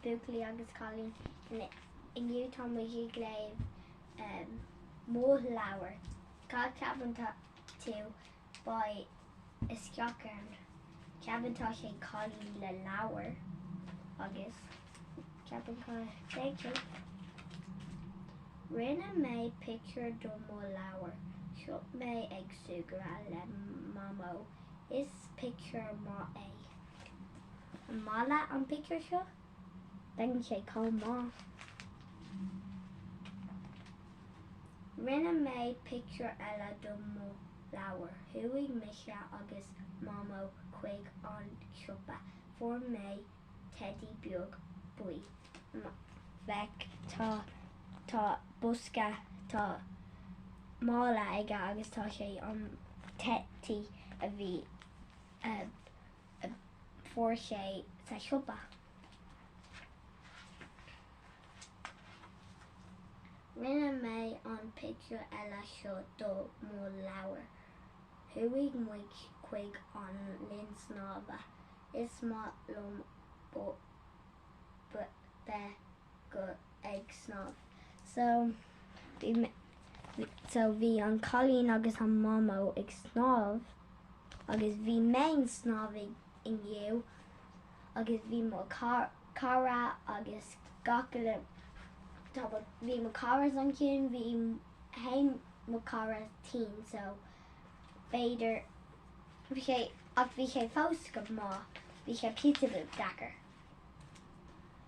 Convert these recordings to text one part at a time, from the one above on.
buachaillí agus cailíní. Inniu tá muid ag léamh mo leabhar. Cá ceapann tú beidh isteach ann? Ceapann tá sé cailín le leabhar agus ceapann cá beidh sé. Rinne mé pictiúr do mo leabhar. Seo mé ag súgradh le mamó. Is pictiúr maith é. An maith leat an pictiúr seo? Baineann sé chomh maith. Rinne mé pictiúr eile do mo leabhar. Chuaigh mise agus Mamó chuig an siopa. Fuair mé teidí beag buí. Feic, tá, tá bosca, tá mála aige agus tá sé, an teidí a bhí. a fuair sé sa siopa. Rinne mé an pictiúr eile seo do mo leabhar. Chuaigh muid chuig an linn snámha. Is maith liom bheith. go ag snámh so bhí an cailín agus an mamó ag snámh agus bhí mé ag snámh inniu agus bhí mo cara agus gach uile tá mo bhí mo caras ansin bhí haon mo cara tinn so b'fhéidir bhí sé ach bhí sé fós go maith bhí sé píosa bit deacair.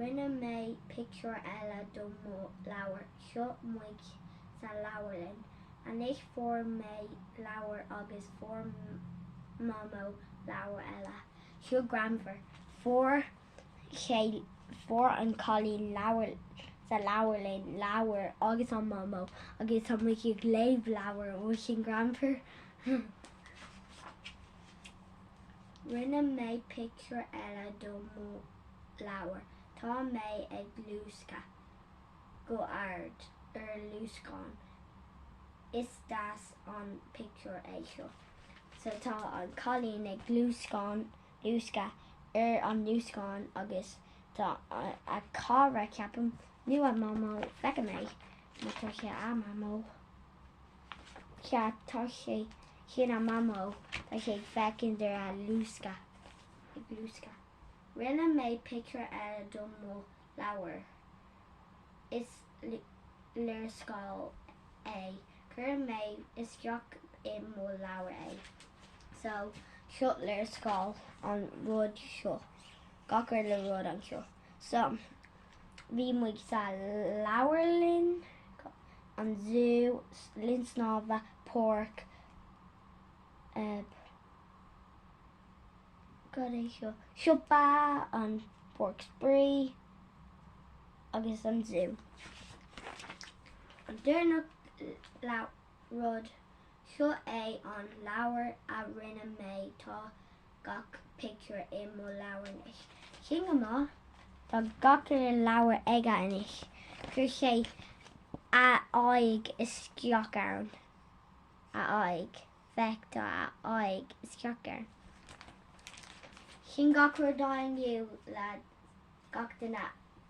Rinne mé pictiúr eile do mo leabhar. Seo muid sa leabharlann anois. Fuair mé leabhar agus fuair Mamó leabhar eile. Seo greannmhar. Fuair, fuair an cailín leabhar sa leabharlann, leabhar agus an Mamó agus tá muid ag léamh leabhar. An bhfuil sin greannmhar? Rinne mé pictiúr eile do mo leabhar. Tá mé ag luascadh go ard ar luascán. Is deas an pictiúr é seo. So tá an cailín ag luascán, luascadh, ar an luascán agus tá a cara, ceapaim, nó a mamó, feicfidh mé, má tá sé a mamó. ceart tá sé sin a mamó tá sé ag féachaint ar a luascadh ag luascadh. Rinne mé picture eile do mo leabhar is léarscáil é cuirfidh mé isteach i mo leabhar é so seo léarscáil an rud seo gach uile rud anseo. So, bhí muid ag leabharlann, an zú, linn snámha, páirc, eh, cad é seo, siopa, an páirc spraoi agus an zú. An deireanach rud Seo é an leabhar a rinne mé, tá gach pictiúr i mo leabhar anois. Sin go maith. Tá gach uile leabhar aige anois. Chuir sé a aghaidh isteach ann. A aghaidh. Féach, tá a aghaidh isteach ann. Sin gach rud inniu le gach duine